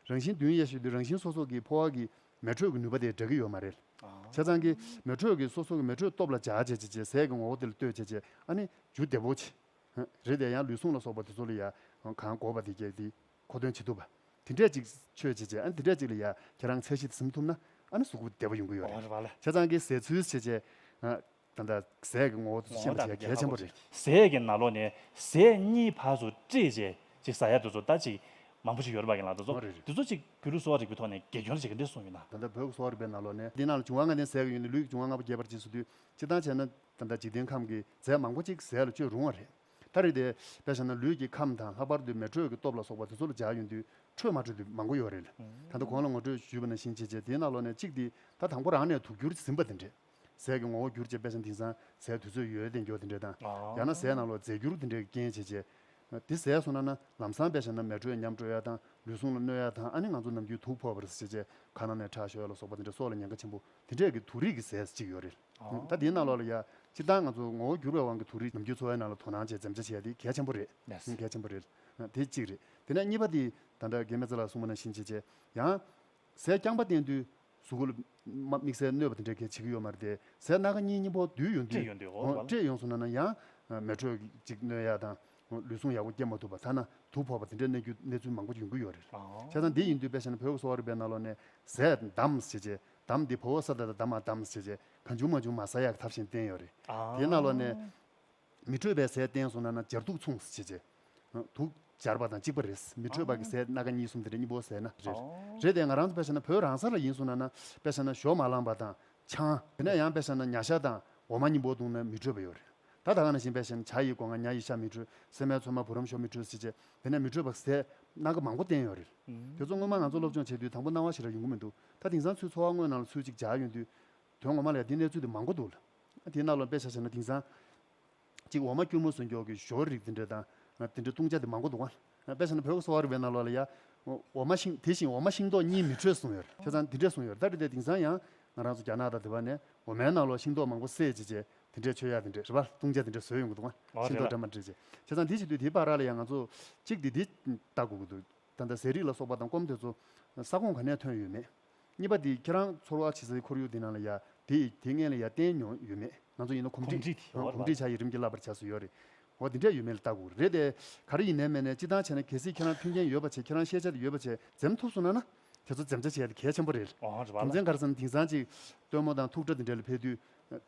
རང་བཞིན་བདུན་དབྱེ་ཞིག་དུས་རང་བཞིན་སོ་སོ་གི་ཕོ་བ་གི་མེ་དྲོད་ཀྱི་ནུས་པ་དེ་འདྲ་གི་ཡོད་མ་རེད། བྱས་ཙང་གི་མེ་དྲོད་ཀྱི་སོ་སོ་གི་མེ་དྲོད་སྟོབས་ལ་བྱ་བྱས་བྱས་རྗེས་ཟས་ཀྱི་ངོ་བོ་དེ་ལ་ལྟོས་བྱས་རྗེས་ཨ་ནི་ཇུ་བདེ་བོ་ཆེ་རེད་དེ་ཡང་ལུས་ཟུངས་ལ་སོགས་པ་དེ་ཚོ་ལ་ཡ་གང་དགོས་པ་དེ་སྐྱེ་གི་གོ་དོན་ཇི་ཐུབ། དེ་འདྲས་ཅིག་ཆོས་བྱེད་ཅེས་ཨ་ནི་དེ་འདྲས་ཅིག་ལ་ཡ་ཁྱེད་རང་ཚད་གཞི་ཟིན་ཐུབ་ན་ཨ་ནི་གཟུགས་པོ་བདེ་བོ་ཡོང་གི་ཡོད་རེད། བྱས་ཙང་གི་ཟས་ཚུལ་བྱེད་ཅེས་ད་ལྟ་ཟས་ཀྱི་ངོ་བོ་ཚུལ་བཤད་མི་བྱེད་གལ་ཆེན་པོ་རེད། ཟས་ཀྱི་ན་ལོ་ནས་ཟས་གཉིས་བར་སུ་བཀྲིས་བྱས་ཅིག་ཟ་ཡ་དེ་ཚོ་ད་ཅིག་མང་པོ་ཞིག་ཡོད་རེད་པ་ཡིན་ལགས་དེ་ཚོ་དེ་ཚོ་ཅིག་བོད་ལུགས་གསོ་བ་རིག་པའི་ཐོག་ནས་དགེ་སྐྱོར་བྱེད་ཀྱི་འདི་གསུངས་ཡོད་ན། ད་ལྟ་བོད་གསོ་བ་རིག་པའི་ན་ལོ་ནས་འདི་ན་ལ་འབྱུང་བ་ལྔ་ལྡན་ཟས་ཀྱི་ཡུལ་ནི་ལུས་ཀྱི་འབྱུང་བ་ལྔ་པོ་རྒྱས་པར་བྱས་སུ་དུས་སྤྱི་བཏང་བྱས་ན་ད་ལྟ་འཇིག་རྟེན་ཁམས་ཀྱི་ཟས་མང་པོ་ཅིག་ཟས་ལ་སྤྱོད་རུང་བ་རེད། ད་རེས་དེ་བས་བྱས་ན་ལུས་ཀྱི་ཁམས་དང་ལྷག་པར་དུ་མེ་དྲོད་ཀྱི་སྟོབས་ལ་སོགས་པ་དེ་ཚོ་ལ་འཇགས་ཡོང་དུས་ཁྲོས་མ་ཁྲོས་དུས་མང་པོ་ཡོད་རེད། ད་ལྟ་གོང་ལ་ངོ་སྤྲོད་ཞུས་པ་ནས་ཤིང་བྱེད་བྱེད་དེའི་གནའ་ལོ་ནས་གཅིག་དེ་ད་དང་པོ་རང་ནས་དུག་གྱུར་ཟིན་པ་དེ་འདྲས། ཟས་ཀྱི་ངོ་བོ་གྱུར་བྱེད་དཔེ་ཆ་འདིང་སང་ཟས་དུས་ཚོད་ཡོལ་དེ་མགྱོགས་དེ་འདྲས་དང། ཡང་ན་ཟས་ནང་ལོག་རྫས་གྱུར་དེ་འདྲས་ཀྱི་རྐྱེན་བྱེད་བྱེད། དེ་ཟས་སོང་ན་ན་ལམ་སང་དཔེ་བྱས་ན་མེ་དྲོད་ཉམས་དྲོད་ཡ་དང་ལུས་ཟུངས་ལ་གནོད་ཡ་དང་ཨ་ནི་ང་ཚོ་ནམ་རྒྱུན་དུག་ཕོག་པ་རེད་ཟེར་བྱེད་བྱེད་གང་ན་ནས་ཁྲག་ཤོད་ལ་སོགས་པ་དེ་འདྲས་སྲོག་ལ་ཉེན་ཁ་ཆེན་པོ་དེ་འདྲས་ཀྱི་དུག་རིགས་ཀྱི་ཟས་ཤིག་ཡོད་རེད། ད་དེའི་ནང་ལོགས་ལ་ཡ། སྤྱིར་བཏང་ང་ཚོ་ངོ་བོ་འགྱུར་བའི་དབང་གིས་དུག་རིགས་ནམ་རྒྱུན་འཚོ་བའི་ནང་ལ་དོ་སྣང་བྱས་འཛེམ་བྱ་བྱས་དེ་གལ་ཆེན་པོ་རེད། གལ་ཆེན་པོ་རེད། དེ་གཅིག་རེད། དེ་ནས་གཉིས་པ་དེ། ད་དྲ་རྒན་མེ་ཙི་ལགས་གསུངས་པ་ནང་བཞིན་བྱས་རྗེས། ཡང། ཟས་རྐྱང་པ་བསྟེན་དུས། གཟུགས་གོལ། དམིགས་བསལ་གནོད་པ་དེ་འདྲ་གལ་ཆེ་གི་ཡོད་མ་རེད་དེ། ཟས་སྣ་ཁ་གཉིས་གཉིས་པོ་བསྡུས་ཡོང་དུས། བཀྲེས་ཡོང་སོང་ན་ན་ཡང། མེ་དྲོད་ཅིག་གནོད་ཡ་དང། ལུས་ཟུངས་ཡག་པོ་སྐྱེ་མ་ཐུབ་པ་ཐ་ན་དུག་ཕོག་པ་དེ་འདྲ་གནས་རྒྱུ་གནས་ཚུལ་མང་པོ་ཡོང་གི་ཡོད་རེད། བྱས་ཙང་དེ་ཡིན་དུས་དཔེ་བྱས་ན་བོད་ཀྱི་གསོ་བ་རིག་པའི་ནང་ལོགས་ནས། ཟས། བདམས། བྱས་རྗེས། དམ་འདི་ཕོ་བོ་ས་ད་ད་དམ་མ་དམ་ཟེར་བྱས་གང་བྱུང་མ་བྱུང་མ་ཟ་ཡག་ཐབས་བཞིན་བསྟན་ཡོད་རེད། དེའི་རྣ་ལོག་ནས། མི་འཕྲོད་པའི་ཟས་བསྟན་སོང་ན་ན་སྦྱར་དུག་མཚུངས་ཟེར་བྱས། དུག་སྦྱར་བ་དང་གཅིག་པ་རེད། མི་འཕྲོད་པ་གི་ཟས་སྣ་ཁ་གཉིས་གསུམ་དེ་རེད་གཉིས་པོ་ཟས་སྣ་རེད། རེད་དེ་ང་རང་ཚོ་དཔེ་བྱ་ན་བོད་རང་ས་ལ་ཡིན་སོང་ན་ན་དཔེ་བྱ་ན་ཞོ་མ་བླངས་པ་དང་ཆང། དེ་ནས་ཡང་དཔེ་བྱ་ན་ཉྭ་ཤ་དང་འོ་མ་གཉིས་པོ་བཏུང་ན་མི་འཕྲོད་པ་ཡོད་རེད། ད་ད་ག་ནང་བཞིན་དཔེ་བྱས་ན་བྱ་ཡི་སྒོ་ང་ཉྭ་ཡི་ཤ་མི་འཕྲོད་སྲན་མའི་ཚོད་མ་བུ་རམ་ཞོ་མི་འཕྲོད་ཟེར་བྱས་དེ་ནས་མི་འཕྲོད་པ་གི་ཟས་སྣ་ཁ་མང་པོ་བསྟན་ཡོད་རེད། དེ་ཚོ་སྔོན་མ་ང་ཚོ་སློབ་སྦྱོང་བྱས་དུས་དང་པོ་སྣང་བ་ཞེས་རག་ཡོང་གི་མི་འདུག་ད་དིང་སང་ཚུལ་འཚོ་བ་དངོས་ནང་ལ་ཚུལ་གཅིག་སྦྱར་ཡོད་དུས། དོན་ངོ་མ་ལ་ཡང་དེ་གནས་ཚུལ་དེ་མང་པོ་འདུག་ལ། དེའི་རྣ་ལོག་དཔེ་ཆ་བྱས་ན་དིང་སང། གཅིག་འོ་མ་སྐྱུར་མོ་ཟོས་མགྱོགས་ཀྱི་ཞོར་རིགས་དེ་འདྲ་དང། དེ་འདྲའི་བཏུང་བྱ་དེ་མང་པོ་འདུག་ལ། དཔེ་ཆ་ནི་བོད་ཀྱི་གསོ་བ་རིག་པའི་རྣ་ལོག་ལ་ཡང། འོ་མ་ཤིང་དེ་བཞིན་འོ་མ་ཤིང་ཏོག་གཉིས་མི་འཕྲོད་གསུངས་ཡོད་ལ། ཁྱེད་ཚང་དེ་འདྲས་གསུངས་ཡོད་ལ་ད་རེས་དེ་དིང་སང་ཡང། ང་རང་ཚོ་རྒྱ་ནག་དང་དེ་བ་ནས་འོ་མའི་རྣ་ལོག་ཤིང་ཏོག་མང་པོ་བསད་བྱས་རྗེས་དེ་འདྲས་མཆོད་ཡ་དེ་འདྲས་རེད་པ་བཏུང་བྱ་དེ་འདྲས་ཟོས་ཡོང་གི་འདུག་ང། ཤིང་ཏོག་འདྲ་མ་འདྲས་རྗེས། ཁྱེད་ཚང་དེ་བྱེད་དུས་དེའི་བར་ར་ལ་ཡང་ང་ཚོ། གཅིག་དེ་དེ་ལྟ་དགོས་ཀྱི་འདུག་ད་ལྟ་ཟས་རིགས་ལ་སོགས་པ་དང་སྐོམ་དེ་ཚོ་ས་ཁོངས་ག་ནས་ཐོན་ཡོད་མེད། གཉིས་པ་དེ་ཁྱེད་རང་ཚོར་བ་བྱེད་སའི་ཁོར་ཡུག་དེ་ནང་ལ་ཡ་དེ་དེ་སྔས་ལ་ཡ་བསྟན་མྱོང་ཡོད་མེད་ང་ཚོ་ཡིན་ན་གོམས་འདྲིས་གོམས་འདྲིས་བྱ་ཡི་རིམ་གྱིས་བསླབ་པར་བྱས་སུ་ཡོད་རེད་འོ་དེ་འདྲས་ཡོད་མེད་ལ་བལྟ་དགོས་རེད་དེ་ག་རེ་ཡིན་ནའི་མེད་ནའི་སྤྱི་བཏང་བྱས་ན་གལ་སྲིད་ཁྱེད་རང་མཐུན་རྐྱེན་ཡོད་པ་བྱས་ཁྱེད་རང་ཤེས་བྱ་དེ་ཡོད་པ་བྱས་འཛེམ་ཐུབ་སོང་ན་ན་དེ་ཚོ་འཛེམ་བྱ་བྱས་དེ་གལ་ཆེན་པོ་རེད་རྒྱུ་མཚན་ག་རེ་བསམ་ན་དིང་སང་ཅིག་སྟོན་མོ་དང་ཐུག་སྒྲ་དེ་འདྲས་ལ་ཕེབས་དུས་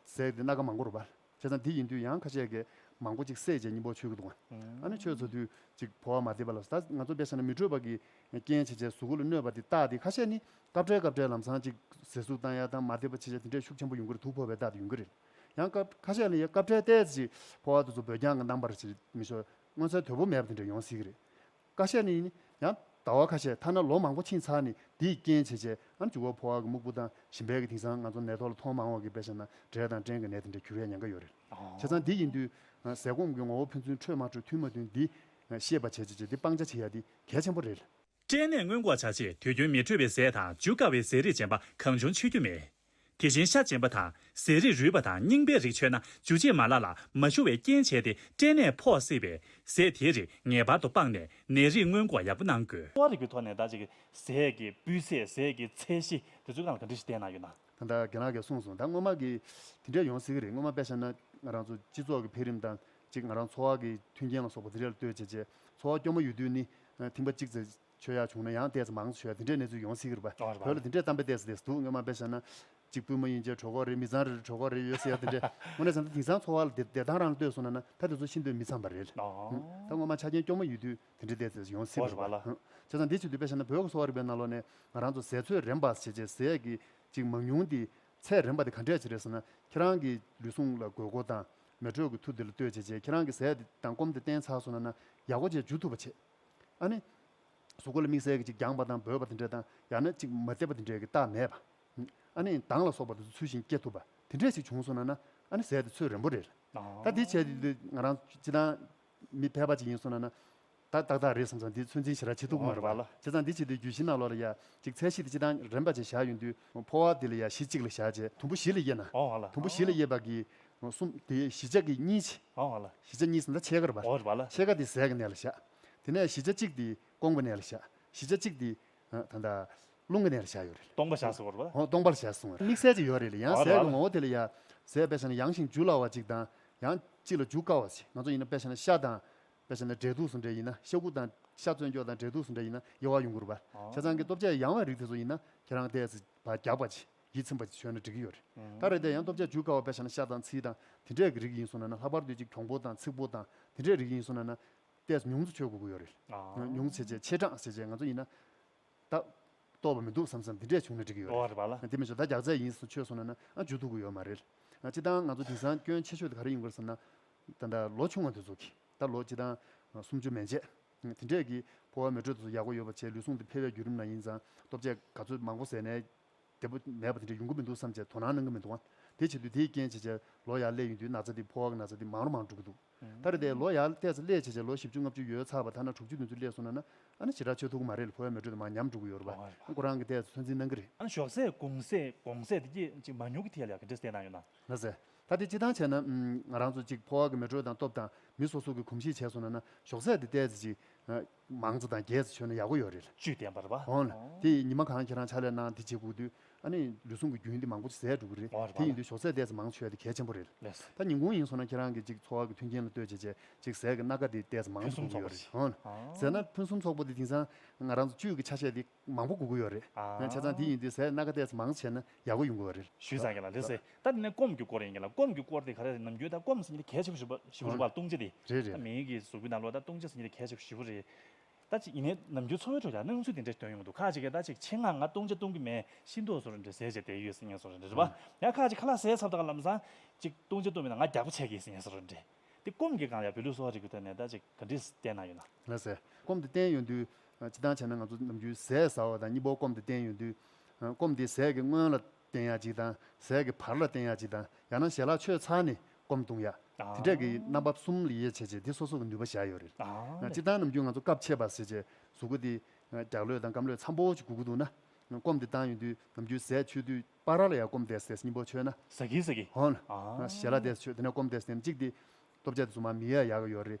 ཟས་དེ་སྣ་ཁ་མང་པོ་རུ་བབས། བྱས་ཙང་དེ་ཡིན་དུས་ཡང་ཁ་ཆད་གས་མང་པོ་ཅིག་སད་རྗེས་སྙིང་པོ་ཆོད་ཀྱི་འདུག་ཨ་ནི་ཆོས་ཚོ་དུས་ཅིག་བོ་བ་མ་འདེད་པ་ལ་ད་ང་ཚོ་དཔེ་ཆ་ན་མི་འཕྲོད་པ་གི་རྐྱེན་བྱས་རྗེས་གཟུགས་སྐུ་ལ་གནོད་པ་དེ་རྟགས་དེ་ཁ་ཤས་ནི་སྐབས་འཕྲལ་སྐབས་འཕྲལ་ལམ་སང་ཅིག་ཟས་ཟུག་བཏང་ཡ་དང་མ་འདེད་པ་བྱས་རྗེས་དེ་འདྲས་ཤུགས་ཆེན་པོ་ཡོང་གི་རེད་དུག་ཕོ་བའི་རྟགས་དེ་ཡོང་གི་རེད་ཡང་སྐབས་ཁ་ཤས་ལ་ཡ་སྐབས་འཕྲལ་ལྟས་ཅིག་ཕོ་བ་དེ་ཚོ་བོད་རྒྱང་གི་ནང་པར་བྱེད་མི་ཆོག་མངོན་གསལ་དོད་པོ་མེད་པ་དེ་འདྲས་ཡོང་སྲིད་གི་རེད། ཀ་ཤས་ནི། ཡང་ཟླ་བ་ཁ་ཤས་ཐ་ན་ལོ་མང་པོ་ཕྱིན་ཚར་ནི་དེའི་རྐྱེན་བྱས་རྗེས་ཨ་འཇུ་བ་ཕོ་བ་གི་སྨུག་པོ་དང་ཞིམ་པའི་གི་དིང་སང་ང་ཚོ་ནད་ཐོག་ལ་མཐོང་མང་བ་གི་དཔེ་ཤ་ན་འབྲས་དང་སྐྲན་གི་ནད་དེ་འདྲ་གྱུར་ཡ་ཉན་ཀ་ཡོད་རེད། བྱས་ཙང་དེ་ཡིན་དུས། ཟས་སྐོམ་གི་ངོ་བོ་ཕན་ཚུན་འཕྲོད་མ་འཕྲོད་མཐུན་མ་མཐུན་དེ། ཤེས་པ་བྱས་རྗེས་དེ་སྤང་བྱ་བྱེད་ཡ་དེ་གལ་ཆེན་པོ་རེད། སྐྲན་ནད་སྔོན་འགོག་བྱ་ཆེད་དུས་རྒྱུན་མི་འཕྲོད་པའི་ཟས་དང་འཇུ་དཀའ་བའི་ཟས་རིགས་ཅན་པ་གང་བྱུང་འཆི་རྒྱུ་མེད། དེ་བཞིན་ཤ་རྗེན་པ་དང་ཟས་རིགས་རུལ་བ་དང་རྙིང་པའི་རིགས་མཆོད་ན་འཇུ་བྱེད་མ་ལག་ལ་མ་ཞུ་བའི་རྐྱེན་བྱས་ཏེ་སྐྲན་ནད་ཕོག་སྲིད་པས་ཟས་དེའི་རིགས་ངེས་པར་དུ་སྤངས་ནས་ནད་རིགས་སྔོན་འགོག་ཡག་པོ་གནང་དགོས། ལྟོ་བ་རིག་པའི་ཐོག་ནས་ད་ཅིག་གི་ཟས་ཀྱི་སྤུས་ཚད་ཟས་ཀྱི་ཚད་གཞི་དེ་ཚོའི་སྒང་ལ་ག་འདྲི་ཞིག་བལྟས་གནང་ཡོད་ན། ད་ལྟ་རྒན་ལགས་ཀྱིས་གསུངས་སོང་ད་སྔོན་མ་གི་དེ་འདྲས་ཡོང་སྲིད་ཀྱི་རེད་སྔོན་མ་དཔེ་ཤར་ན་ང་རང་ཚོ་སྤྱི་ཚོགས་ཀྱི་འཕེལ་རིམ་དང་གཅིག་ང་རང་འཚོ་བ་གི་མཐུན་རྐྱེན་ལ་སོགས་པ་དེ་འདྲས་ལ་ལྟོས་བྱས་རྗེས་འཚོ་བ་སྐྱོ་མོ་ཡོད་དུས་ནི་ཐིང་པ་གཅིག་ཚེ་ཆོས་ཡག་བྱུང་ན་ཡང་ལྟས་ཚོ་མང་ཆོས་འདི་འདྲའི་གནས་ཚུལ་ཡོང་སྲིད་གི་རེད་བོད་ལ་འདི་འདྲའི་གཏམ་དཔེ་ལྟས་ས་དེས་སྡུག་སྔོན་མ་དཔེ་ཤ་ན་གཅིག་པུས་མོ་ཡིན་རྗེས་གྲོད་ཁོག་རེད་མི་ཚང་རེ་རེར་གྲོད་ཁོག་རེ་ཡོད་ཟེར་ཡ་དེ་འདྲའི་དངོས་གནས་བསམ་ཚེ་དེང་སང་འཚོ་བ་ལ་བདེ་ཐང་རང་ལྟོས་སོང་ན་ན་ད་དེ་ཚོ་ཤི་འདོད་མི་ཚང་པ་རེད་ད་སྔོན་མ་ཆ་རྐྱེན་སྐྱོ་མོ་ཡོད་དུས་དེ་འདྲའི་ལྟས་ཚོས་ཡོང་སྲིད་པ་རེད་བྱས་ཙང་འདི་ཆེད་དུ་དཔེ་ཤ་ན་བོད་ཀྱི་གསོ་བ་རིག་པའི་ནང་ལོགས་ནས་ང་རང་ཚོ་ཟས་ཚོད་རན་པ་བྱེད་ཆེད་ཟས་ཀྱི་ཅིག་མང་ཉུང་དེ་ཚད་རན་པ་དེ་ག་འདྲས་བྱེད་རེད་ཟེར་ན་ཁྱེད་རང་གི་ལུས་ཟུངས་ལ་དགོས་མཁོ་དང་མེ་དྲོད་ཀྱི་མཐུ་དེ་ལ་ལྟོས་བྱས་རྗེས་ཁྱེད་རང་གི་ཟས་དེ་དང་སྐོམ་དེ་བསྟེན་ཚར་སོང་ན་ན་ཡག་པོ་བྱས་འཇུ་ཐུབ་པ་བྱེད། ཨ་ནི། གཟུགས་སྐུ་ལ་དམིགས་བསལ་གྱི་གཅིག་རྒྱངས་པ་དང་འབོད་པ་དེ་འདྲ་དང་ཡང་ན་གཅིག་མ་བརྩེ་བ་དེ་འདྲའི་རྟགས་མེད་པ། ཨ་ནི། མདངས་ལ་སོགས་པ་དེ་ཚོ་ཚུལ་བཞིན་སྐྱེ་ཐུབ་པ་དེ་འདྲས་ཤིག་བྱུང་སོང་ན་ན་ཨ་ནི་ཟས་དེ་ཚོད་རན་པོ་རེད། ད་དེ་བྱས་དུས་ང་རང་སྤྱི་དང། མི་ཕལ་པ་ཅིག་ཡིན་སོང་ན་ན། ད་ཏག་ཏག་རེད་བསམ་སོང་འདི་ཚོད་འཛིན་བྱེད་ར་ཇི་ཐུབ་ཀྱི་མ་རེད་བ། བྱས་ཙང་འདི་བྱས་དུས་རྒྱུད་བཞི་ནག་ལོ་ལ་ཡ་གཅིག་ཚད་བཞི་དེ་སྤྱི་དང་རན་པ་ཅིག་བཞག་ཡོང་དུས་ཕོ་བ་དེ་ལ་ཡ་བཞི་གཅིག་ལ་བཞག་རྗེས་དུམ་བུ་བཞི་ལ་དབྱེ་ན། དུམ་བུ་བཞི་ལ་དབྱེ་བ་གིས་གསུམ། དེའི་བཞི་ཆ་གི་གཉིས་ཕྱི། བཞི་ཆ་གཉིས་ཟླ་ཕྱེད་ཀར་བར། ཕྱེད་ཀ་དེ་ཟས་ཀྱི་གནས་ལ་བཞག། དེ་ནས་བཞི་ཆ་གཅིག་དེ་སྐོང་བའི་གནས་ལ་བཞག། བཞི་ཆ་གཅིག་དེ། ད་ལྟ། རླུང་གི་གནས་ལ་བཞག་ཡོད་རེད། སྟོང་པ་བཞག་སོང་བ་རེད། སྟོང་པ་ལ་བཞག་སོང་བ་རེད། དམིགས་བསལ་གཅིག་ཡོད་རེད། ཡང་ཟས་ཀྱི་ངོ་བོ་དེ་ལ་ཡང། ཟས་དཔེ་བྱ་ན་ཡང་ཞིང་འཇུ་སླ་བ་ཅིག་དང། ཡང། གཅིག་ལ་འཇུ་དཀའ་བ་ཞིག་ང་ཚོ་ཡིན་ན་དཔེ་བྱ་ན་ཤ་དང། དཔེ་བྱ་ན་འབྲས་དུག་སོགས་འདྲེ་ཡིན་ན་ཤ་ཁུ་དང། ཤ་བཙོན་སྐྱོགས་དང་འབྲས་དུག་སོགས་འདྲེ་ཡིན་ན་ཡོ་བ་ཡོང་གི་རུ་བ། བྱ་ཚང་གི་སྟོབས་ཆས་ཡང་བའི་རིགས་དེ་ཚོ་ཡིན་ན་ཁྱེད་རང་ལྟས། བརྒྱག་པ་ཅིག། ཡིད་ཚིམ་པ་ཞིག་ཤོད་ན་འགྲིག་གི་ཡོད་རེད། ད་རེས་འདི་ཡང་སྟོབས་ཆ་འཇུག་དཀའ་བ་བས་བྱས་ན་ཤ་དང་ཚིལ་དང་དེ་འདྲའི་རིགས་ཡིན་སོང་ན་ན་ལྷག་པར་དུ་ཅིག་གྱོང་པོ་དང་ཚིག་པོ་དང་དེ་འདྲའི་རིགས་ཡིན་སོང་ན་ན། ལྟས་ཉུང་ཙུ་ཆོད་དགོས་ཀྱི་ཡོད་རེད། ཉུང་ཙུ་བྱས་རྗེས་ཆེ་གྲངས་བྱས་རྗེས་ང་ཚོ་ཡིན་ན། ད། ལྟོས་པ་མི་འདུག་བསམ་བསམ་དེ་འདྲས་བྱུང་ན་འགྲིག་གི་ཡོད་རེད། དེ་མི་ཆོག་ད་རྒྱག་རྩལ་ཡིན་སོང་ཆོད་སོང་ན་ན་ཨང་འཇུག་ཐུབ་ཀྱི་ཡོད་མ་རེད། སྤྱི་བཏང་ང་ཚོ་དེང་སང་སྐྱོན་ཆེ་ཤོས་དེ་ག་རེ་ཡིན་དགོས་རེད་བསམ་ན། ད་ད་ལོ་ཆུང་བ་དེ་ཚོ་གིས་ད་ལོ་སྤྱི་བཏང། སུམ་ཅུ་མན་ཆད། དེ་འདྲས་ཀྱིས་ཕོ་བ་མེ་དྲོད་དེ་ཚོ་ཡག་པོ་ཡོད་པ་བྱས་ལུས་ཟུངས་དེ་འཕེལ་བའི་བརྒྱུད་རིམ་ན་ཡིན་ཙང་སྟོབས་ཆས་ག་ཚོད་མང་པོ་ཟས་ནས་བདེ་པོ་མེད་པ་དེ་འདྲ་ཡོང་གི་མི་འདུག་བསམ་བྱས་དོ་སྣང་གནང་གི་མི་འདུག་ཨང། དེ་བྱས་དུས་དེའི་རྐྱེན་བྱས་བྱས་ལོ་ཡར་སླེབས་ཡོང་དུས་ན་ཚ་འདི་ཕོ་བ་གི་ན་ཚ་འདི་མང་རུ་མང་འགྲོ་གི་འདུག། ད་རེས་འདས་ལོ་ཡར་བལྟས་ཚེ་སླེས་བྱས་བྱས་ལོ་བཞི་བཅུ་ལྔ་བཅུ་ཡོལ་ཚར་བ་ཐ་ན་དྲུག་ཅུ་བདུན་ཅུ་སླེས་སོང་ན་ན་ཨ་ནི་བྱེ་བྲག་ཆོས་ཐུག་གི་མ་རེད་ལ་ཕོ་བའི་མེ་དྲོད་དེ་མང་ཉམས་འགྲོ་གི་ཡོད་རེད་བ་ཨ་ཁོ་རང་གི་བལྟས་ཚེ་ཚོད་འཛིན་གནང་གི་རེད། ཨ་ནི་ཞོགས་ཟས་གུང་ཟས་གོང་ཟས་དེ་གྱིས་ཅིག་མ་ཉུང་གི་ཐད་ལ་ག་འདྲའི་ཟས་གནང་ཡོད་ན། ལྷ་ཟས། ད་དེ་སྤྱི་དང་བྱས་ན། ང་རང་ཚོ་ཅིག་ཕོ་བ་གི་མེ་དྲོད་དང་སྟོབས་དང་མི་སོ་སོ་གི་གོམས་གཤིས་བྱས་སོང་ན་ན་ཞོགས་ཟས་དེ་བལྟས་ཚེ་ཅིག། མང་གཙོ་དང་རྒྱས་སུ་ཆོད་ན་ཡག་པོ་ཡོད་རེད། བཅུད་ལྡན་པར་བ། འོན་ཏེ་ཉི་མ་གང་ཁྱེད་རང་ཕྱག་ལས་གནང་དེ་བྱེད་ཁུག་དུས་ཨ་ནི་ལུས་ཟུངས་ཀྱི་རྒྱུན་དེ་མང་པོ་ཟད་འགྲོ་གི་རེད་དེ་ཡིན་དུས་ཞོགས་ཟས་བལྟས་ཚེ་མང་ཆོད་དེ་གལ་ཆེན་པོ་རེད། ད་ཉིན་གུང་ཡིན་སོང་ན་ཁྱེད་རང་གི་ཅིག་འཚོ་བ་གི་མཐུན་རྐྱེན་ལ་ལྟོས་བྱེད་ཆེད་ཅིག་ཟས་ཀྱི་སྣ་ཁ་དེ་བལྟས་ཚེ་མང་དུ་འགྲོ་གི་ཡོད་རེད། འོན་ཟེར་ན་ཕུན་སུམ་ཚོགས་པོ་དེ་དེང་སང་ང་རང་ཚོ་བཅུད་ཀྱི་ཆ་ཤས་དེ། མང་པོ་སྒུག་གི་ཡོད་རེད། ང་ཆ་ཚང་འདི་ཡིན་འདི་ཟེར་སྣ་ཁ་བལྟས་ཚེ་མང་བྱས་ན་ཡག་པོ་ཡོང་གི་རེད། ཞུས་ཙང་གི་ལ་ལི་སི། ད་དེ་ནས་སྐོམ་གྱི་སྐོར་ཡིན་གི་ལ་སྐོམ་གྱི་སྐོར་དེ་ག་རེ་རེད་ནམ་རྒྱུན་ད་སྐོམ་ཟེར་ཉིད་དེ་གས་ཆེ་པོ་ཞིག་པོ་ཞིག་པོ་རེད་པ་ལྟུང་བྱེད་དེ། རེད་རེད་ད་རེད། མིའི་གི་གཟུགས་པོའི་ནང་ལོ་ད་ལྟུང་བྱེད་ཟེར་ཉིད་དེ་གས་ཆེ་པོ་ཞིག་པོ་རེད། ད་ཅིག་ཡིན་ནའི་ནམ་རྒྱུན་འཚོ་བའི་ཁྲོད་ཀྱི་སྣང་ཚུལ་དེ་འདྲ་སྟོན་ཡོང་གི་འདུག་ཁ་ཅིག་གིས་ད་ཅིག་ཆེད་མངགས་ང་ལྟུང་བྱེད་ལྟུང་གི་མེད་ཤིན་ཏུ་སོ་རེ་འདྲ་ཟས་བྱས་བསྡད་ཡོད་ཟེར་ཉེས་སོ་རེ་འདྲ་རེད་པ། ཡང་ཁ་ཅིག་ཁ་ལག་ཟས་ཚབ་དང་ལམ་སང་ཅིག་ལྟུང་བྱེད་ལྟུང་མེད་ན་ང་རྒྱགས་པོ་བྱས་གི་ཟེར་ཉེས་སོ་རེ་འདྲ། དེ་སྐོམ་གྱི་སྒང་ལ་ཡང་བོད་ལུགས་གསོ་བ་རིག་པའི་ཐད་ནས་ད་ཅིག་ག་འདྲི་བལྟས་གནང་ཡོད་ན། ལ་ལི་སི། སྐོམ་དེ་བསྟན་ཡོད་དུས་ཅི་ལྟར་བྱས་ན་ང་ཚོ་ནམ་རྒྱུན་ཟས་ཟ་བ་དང་གཉིད་པོ་སྐོམ་དེ་བསྟེན་ཡོད་དུས། སྐོམ་དེ་ཟས་ཀྱི་སྔོན་ལ་བསྟེན་ཡག་ཅིག་དང་ཟས་ཀྱི་བར་ལ་བསྟེན་ཡག་ཅིག་དང་ཡང་ན་ཞལ་ལག་མཆོད་ཚར་ནས་སྐོམ་བཏུང་ཡག་དེ་འདྲ་གི་རྣམ་པ་གསུམ་ལ་དབྱེ་བྱས་རྗེས་དེ་སོ་སོ་གི་ནུས་པ་བཞག་ཡོད་རེད། ཅི་ལྟར་ནམ་རྒྱུན་ང་ཚོ་སྐབས་ཕྱེད་པར་ཟས་བཅད་གཟུགས་སྐུ་དེ་རྒྱག་ལོས་དང་སྐམ་ལོས་འཚམ་པོ་ཅིག་སྒུག་གི་འདུག་ན། སྐོམ་དེ་བཏང་ཡོད་དུས་ནམ་རྒྱུན་ཟས་འཆོས་དུས་པ་ར་ལ་ཡང་སྐོམ་དེས་ཟས་གཉིས་པོ་འཆོས་ན། ཟ་གི་ཟ་གི། ཧོན། ཞལ་ལག་དེས་འཆོས་དེ་ནས་སྐོམ་དེས་ཟས་གཅིག་དེ། སྟོབས་ཆགས་དེ་གཟུགས་མ་མི་ཡ་ཡག་གི་ཡོད་རེད།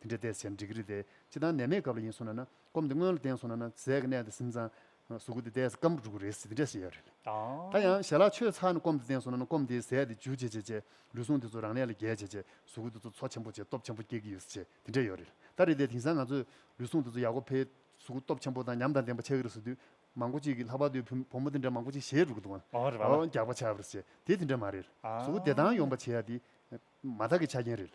དེ་འདྲའི་བལྟས་ཟེར་འགྲིག་གི་རེད་དེ་ཅི་ལྟར་ནད་མེད་སྐབས་ལ་ཡིན་སོང་ན་ན་སྐོམ་དེ་སྔོན་ལ་བསྟེན་སོང་ན་ན་ཟས་ཀྱི་གནས་དེ་ཟིན་ཙང་གཟུགས་སྐུ་དེ་བལྟས་ཟ་སྐམ་པོ་འགྲོ་གི་རེད་ཟེར་དེ་འདྲས་བཤད་ཡོད་རེད། ད་ཡང་ཞལ་ལག་ཆོད་ཚར་ནས་སྐོམ་དེ་བསྟེན་སོང་ན་ན་སྐོམ་དེའི་ཟས་དེ་འཇུ་བྱེད་བྱེད་བྱེད་ལུས་ཟུངས་དེ་ཚོ་རང་ལས་ལ་རྒྱས་བྱེད་བྱེད་གཟུགས་སྐུ་དེ་ཚོ་འཚོ་ཆེན་པོ་བྱེད་སྟོབས་ཆེན་པོ་སྐྱེ་གི་ཡོད་ཟེར་བྱེད་དེ་འདྲས་ཡོད་རེད། ད་རེད་དེ་དེང་སང་ང་ཚོས་ལུས་ཟུངས་དེ་ཚོ་ཡག་པོ་འཕེལ་གཟུགས་སྐུ་སྟོབས་ཆེན་པོ་དང་ཉམས་དང་ལྡན་པ་ཆགས་ཀྱི་རེད་ཟེར་དུས་མང་པོ་ཅིག་གིས་ལྷག་པར་དུ་བུ་བུ་མོ་དེ་འདྲ་མང་པོ་ཅིག་ཞེད་འགྲོ་གི་འདུག་ཨ་རྒྱགས་པ་ཆགས་པ་རེད་ཟེར་དེ་དེ་འདྲས་མ་རེད། གཟུགས་སྐུ་བདེ་ཐང་ཡོང་པ་བྱེད་ཡ་དེ་མ་ཐག་གི་ཆ་རྐྱེན་རེད།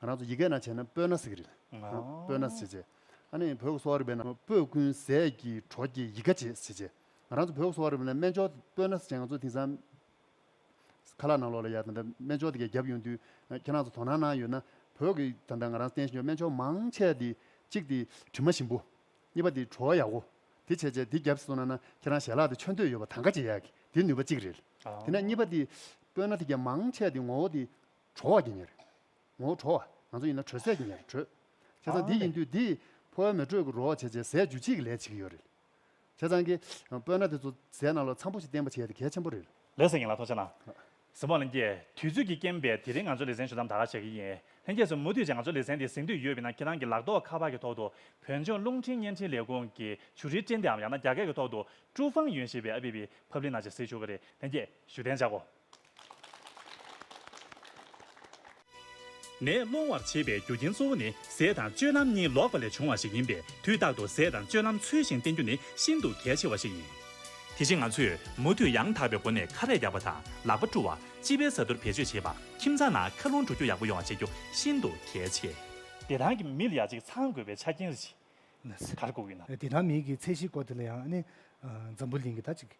ང་རང་ཚོ་ཡི་གེ་ན་བྱས་ན་སྤོས་ན་ཟེར་གི་རེད། སྤོས་ན་ཟེར་རྗེས། ཨ་ནི་བོད་གསོ་བ་རིག་པའི་ནང་སྤོས་ཀུན་ཟས་ཀྱི་གྲོགས་ཀྱི་ཡི་ག་བྱེད་ཟེར་རྗེས། ང་རང་ཚོ་བོད་གསོ་བ་རིག་པའི་ནང་སྨན་སྦྱོར་སྤོས་ན་ཟེར་བྱས་ང་ཚོ་དེང་སང། ཁ་ལག་ནང་ལོགས་ལ་ཡ་ད་ལྟ་སྨན་སྦྱོར་དེ་ག་བརྒྱབ་ཡོང་དུས་ཁྱེད་རང་ཚོ་དོ་སྣང་གནང་ཡོད་ན། བོད་ཀྱི་ད་ལྟ་ང་རང་བསྟན་བཞིན་ཡོད་སྨན་སྦྱོར་མང་ཆེ་དེ། གཅིག་དེ་དྲི་མ་ཞིམ་པོ། གཉིས་པ་དེ་བྲོ་ཡག་པོ། དེ་བྱས་རྗེས་དེ་བརྒྱབ་སོང་ན་ན་ཁྱེད་རང་ཞལ་ལག་དེ་ཆོད་འདོད་ཡོད་པ་ད་ག་བྱེད་ཡག་གི་དེ་ནུས་པ་གཅིག་རེད། དེ་ནས་གཉིས་པ་དེ། སྤོས་ན་དེ་ག་མང་ཆེ་དེ་ངོ་བོ་དེ། གྲོལ་བ་ཀྱི་ཉེར། ངོ་བོ་གྲོལ་བ། ང་ཚོ་ཡིན་ན་གྲོལ་ཟད་ཀྱི་ཉེར་གྲོལ། བྱས་ཙང་འདི་ཡིན་དུས་འདི། འཕོ་བའི་མེ་དྲོད་ཀྱི་རོ་བ་བྱས་བྱས་ཟད་རྒྱུ་གཅིག་གི་ལས་བྱེད་ཀྱི་ཡོད་རེད། བྱས་ཙང་གི། སྤོས་སྣ་དེ་ཚོ་ཟས་ནང་ལ་ཚམ་པོ་ཞིག་བསྟེན་པ་བྱས་ཏེ་གལ་ཆེན་པོ་རེད། ལེགས་སོ་ཡིན་ལ་ཐོག་ཆ་ན། གཟིགས་མོ་ལན་རྒྱས། དུས་ཚོད་ཀྱིས་རྐྱེན་པས་དེ་རིང་ང་ཚོ་ལེ་ཚན་ཞུ་མཚམས་ད་ག་བྱེད་ཀྱི་ཡིན། ལྷན་རྒྱས་སུ་མུ་མཐུད་ཅིག་ང་ཚོ་ལེ་ཚན་འདི་གཟིགས་འདོད་ཡོད་པས་ན་ཁྱེད་རང་གི་ལག་ཐོག་ཁ་པར་གྱི་ཐོག་ཏུ། བོད་ལྗོངས་རླུང་འཕྲིན་བརྙན་འཕྲིན་ལས་ཁུངས་ཀྱི་ཆུ་རིལ་སྤྲིན་དེའམ་ཡང་ན་རྒྱ་སྐད་ཀྱི་ཐོག་ཏུ། ཀྲུའུ་ཧྥང་ཡོན་ཞེས་པའི་ཨ་པི་པི། Public། ནང་ཞིག་གཟིགས་ཞུ་གི་རེད་ལྷན་རྒྱས་ཞུ་གཏན་བཅག་གོ། ནད་སློང་བར་བྱེད་པའི་རྒྱུ་རྐྱེན་གཙོ་བོ་ནི་ཟས་དང་སྤྱོད་ལམ་གཉིས་ལོག་པ་ལས་བྱུང་བ་ཞིག་ཡིན་པས་དུས་རྟག་ཏུ་ཟས་དང་སྤྱོད་ལམ་ཚུལ་བཞིན་བསྟེན་རྒྱུ་ནི་ཤིན་ཏུ་གལ་ཆེ་བ་ཞིག་ཡིན། དེ་བཞིན་ང་ཚོས་མུ་མཐུད་ཡང་དག་པའི་སྒོ་ནས་ཁ་རས་རྒྱག་པ་དང་ལག་པ་བཀྲུ་བ། སྤྱི་པའི་བཟའ་བཏུང་བེད་སྤྱོད་བྱེད་པ། ཁྱིམ་ཚང་ནང་མཁའ་རླུང་འགྲོ་རྒྱུག་ཡག་པོ་ཡོང་བ་བྱེད་རྒྱུ་ཤིན་ཏུ་གལ་ཆེ། བདེ་ཐང་གི་མི་ལ་ཡ་གཅིག་ཚང་དགོས་པའི་ཆ་རྐྱེན་རེ་ཞིག་གར་བསྐུར་ཡོད། བདེ་ཐང་མིའི་གི་ཚད་གཞིའི་སྐོར་དེ་ལ་ཡང་ནི་འཛམ་བུ་གླིང་གི་ད་ཅིག